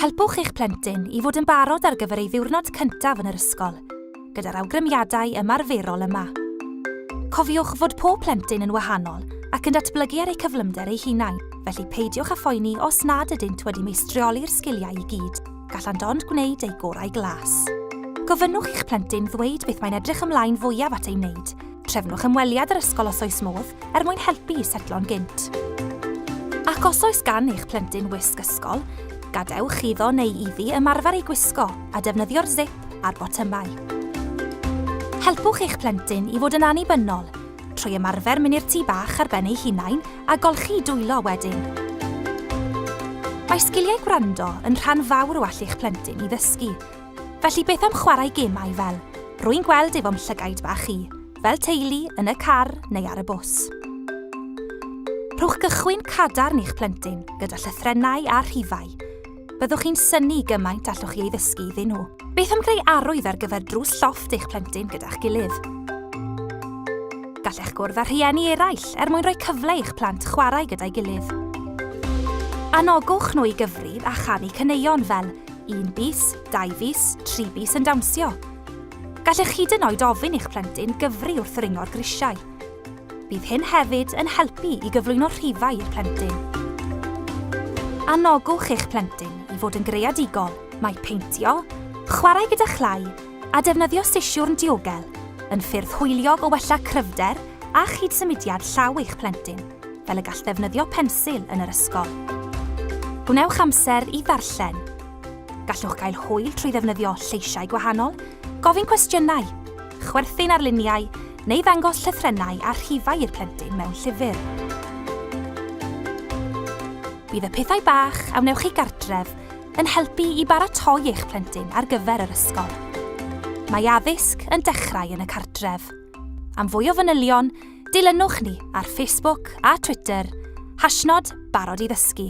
Helpwch eich plentyn i fod yn barod ar gyfer ei ddiwrnod cyntaf yn yr ysgol, gyda'r awgrymiadau ymarferol yma. Cofiwch fod pob plentyn yn wahanol ac yn datblygu ar eu cyflymder eu hunain, felly peidiwch â phoeni os nad ydynt wedi meistrioli'r sgiliau i gyd, gallant ond gwneud eu gorau glas. Gofynnwch i'ch plentyn ddweud beth mae'n edrych ymlaen fwyaf at ei wneud, Trefnwch ymweliad yr ysgol os oes modd, er mwyn helpu i setlo'n gynt. Ac os oes gan eich plentyn wisg ysgol, gadewch iddo neu iddi ymarfer ei gwisgo a defnyddio'r zip a'r botymau. Helpwch eich plentyn i fod yn annibynnol trwy ymarfer mynd i'r tŷ bach ar ben ei hunain a golchi dwylo wedyn. Mae sgiliau gwrando yn rhan fawr o allu'ch plentyn i ddysgu, Felly beth am chwarae gemau fel, rwy'n gweld ef o'm llygaid bach i, fel teulu, yn y car neu ar y bws? Rhowch gychwyn cadarn i'ch plentyn gyda llythrennau a rhifau. Byddwch chi'n synnu gymaint allwch chi ei ddysgu iddyn nhw. Beth am greu arwydd ar gyfer drws llofft eich plentyn gyda'ch gilydd? Gallech gwrdd â rhieni eraill er mwyn rhoi cyfle i'ch plant chwarae gyda'i gilydd. Anogwch nhw i gyfrif a chanu caneuon fel Un bis, dau fis, tri bis yn dawnsio. Gallech hyd yn oed ofyn i'ch plentyn gyfri wrth ringo'r grisiau. Bydd hyn hefyd yn helpu i gyflwyno rhifau i'r plentyn. Anogwch eich plentyn i fod yn greadigol. Mae peintio, chwarae gyda chlai a defnyddio sisiwrn diogel yn ffyrdd hwyliog o wella cryfder a chyd-symudiad llaw eich plentyn. fel y gall ddefnyddio pensil yn yr ysgol. Gwnewch amser i ddarllen. Gallwch gael hwyl trwy ddefnyddio lleisiau gwahanol, gofyn cwestiynau, chwerthin ar luniau neu ddangos llythrennau a rhifau i'r plentyn mewn llyfr. Bydd y pethau bach a wnewch chi gartref yn helpu i baratoi eich plentyn ar gyfer yr ysgol. Mae addysg yn dechrau yn y cartref. Am fwy o fanylion, Dilynwch ni ar Facebook a Twitter, hashnod barod i ddysgu.